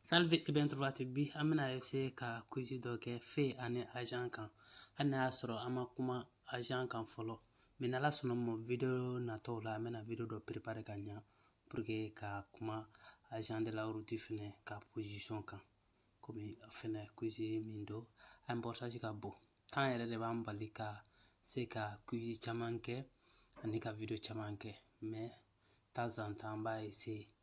Salve e ben trovati bi an bɛna essayer ka quiz dɔ kɛ feu ani agent kan hali n'a y'a sɔrɔ an ma kuma agent kan fɔlɔ mais n'ala sɔnna ma video natɔw la an bɛna video dɔ préparer ka ɲa pour que ka kuma agent de la route fɛnɛ ka position kan komi fɛnɛ quiz min don a importance ka bon temps yɛrɛ de b'an bali ka se ka quiz caman kɛ ani ka video caman kɛ mais temps en temps an b'a essayer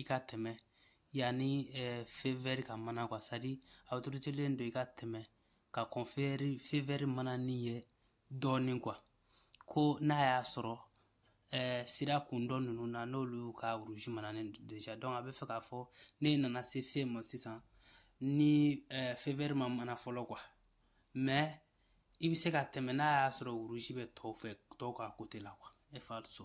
i ka tɛmɛ yanni feu vert ka mana quoi c'est-à-dire autorisélen don i ka tɛmɛ ka kɔn feu vert manani ɲɛ dɔɔnin quoi ko n'a y'a sɔrɔ sira kun dɔ ninnu na n'olu ka rouge manani déjà donc a bɛ fɛ k'a fɔ ne nana se feu ma sisan ni feu vert ma mana fɔlɔ quoi mais i bɛ se ka tɛmɛ n'a y'a sɔrɔ rouge bɛ tɔw fɛ tɔw ka côté la quoi è falso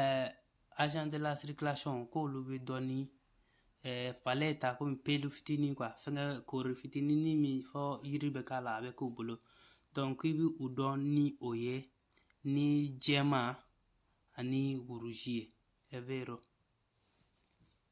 ɛɛ agent de la circulation k'olu bɛ dɔn ni ɛɛ paletta komi pelu fitinin quoi fɛngɛ koori fitinin min fɔ yiri bɛ k'a la a bɛ k'u bolo donc i bɛ u dɔn ni o ye ni jɛman ani rouge ye è vero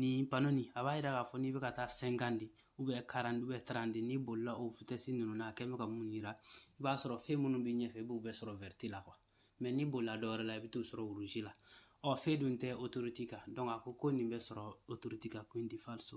Nin panneau nin a b'a yira k'a fɔ n'i bɛ ka taa cinquante ou bien quarante ou bien trente n'i bolila o vitesse ninnu na a kɛ bɛ ka mun yira i b'a sɔrɔ feu minnu bɛ ɲɛfɛ i b'u bɛɛ sɔrɔ verte la quoi mais n'i bolila dɔ wɛrɛ la i bɛ t'u sɔrɔ rouge la ɔ feu dun tɛ autoroute kan donc a ko ko nin bɛ sɔrɔ autoroute kan quindi falso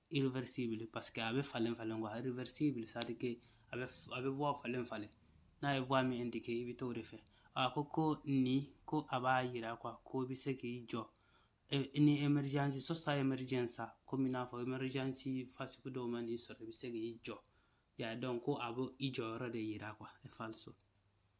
irreversible parce que a bɛ falen falen quoi irreversible a bɛ a bɛ voie falen falen n'a ye voie min indiquer i bɛ t'o de fɛ a ko ko nin ko a b'a yira ko i bɛ se k'i jɔ ni emergence sosta emergenza komi i n'a fɔ emergence fasugu dɔw man'i sɔrɔ i bɛ se k'i jɔ yan donc ko a bɛ i jɔyɔrɔ de yira quoi è falso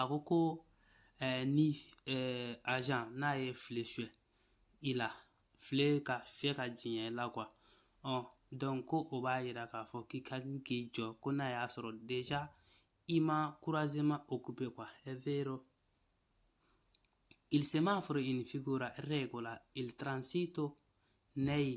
a ko ko ni az n'a ye file su i la file ka fi ka diɲɛ la qu dɔn ko o b'a jira k'a fɔ k'i ka k'i jɔ ko n'a y'a sɔrɔ de i ma kuranzema o ku bɛ kuwa e v sɛma'aforofin ko la transi to ne ye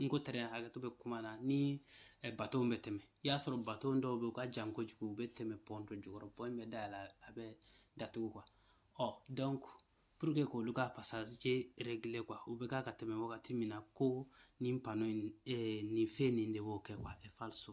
n ko tɛrɛn hakɛto bɛ kuma na ni bato bɛ tɛmɛ i y'a sɔrɔ bato dɔw bɛ u ka jan kojugu u bɛ tɛmɛ pɔn dɔ jukɔrɔ pɔn bɛ dayɛlɛ a bɛ datugu quoi ɔ donc pour que k'olu ka passage régler quoi u bɛ k'a ka tɛmɛ wagati min na ko nin panneau in nin fɛn nin de b'o kɛ quoi è falso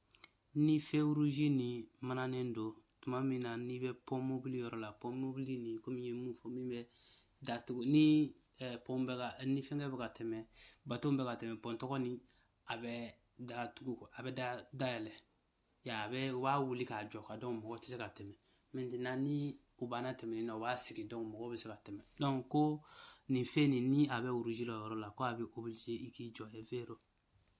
ni feu rouge ni mananen don tuma min na n'i bɛ pont mobile yɔrɔ la pont mobile ni komi n ye mun fɔ min bɛ datugu ni pont bɛ ka ni fɛngɛ bɛ ka tɛmɛ bato bɛ ka tɛmɛ pont tɔgɔ ni a bɛ datugu a bɛ da dayɛlɛ ya a bɛ u b'a wuli k'a jɔ ka donc mɔgɔ tɛ se ka tɛmɛ maintenant ni u banna tɛmɛni na u b'a sigi donc mɔgɔ bɛ se ka tɛmɛ donc ko nin fɛn nin ni a bɛ rouge la yɔrɔ la ko a bɛ obligé i k'i jɔ è vero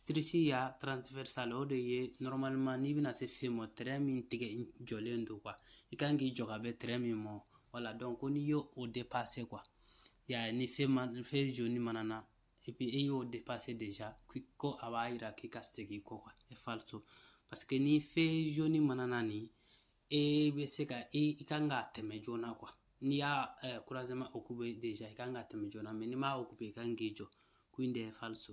striscia transversale o de ye normalement n'i bɛna se feu ma trait min tigɛ jɔlen don quoi i kan k'i jɔ ka bɛn trait min ma voilà donc ko n'i y'o o dépasser quoi ya ni feu ma ni feu jaune manana et puis i y'o dépasser déjà ko a b'a yira k'i ka segin kɔ quoi è falso parce que ni feu jaune manana ni e bɛ se ka e i kan ka tɛmɛ joona quoi n'i y'a croisement occuper déjà i kan ka tɛmɛ joona mais n'i m'a occuper i kan k'i jɔ quindi è falso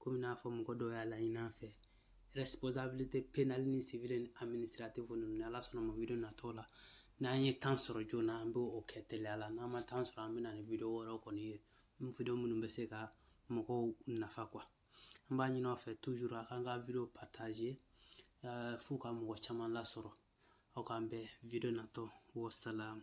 komi n'a fɔ mɔgɔ dɔw y'a laɲini an fɛ responsabilité pénale ni civile ni administrative ninnu ni ala sɔnna ma video natɔ la n'an ye temps sɔrɔ joona an bɛ o kɛ teliya la n'an ma temps sɔrɔ an bɛ na ni video wɛrɛw kɔni ye video minnu bɛ se ka mɔgɔw nafa quoi an b'a ɲini aw fɛ toujours a k'an ka video partager eh, f'u ka mɔgɔ caman lasɔrɔ aw k'an bɛn video natɔ wasalamu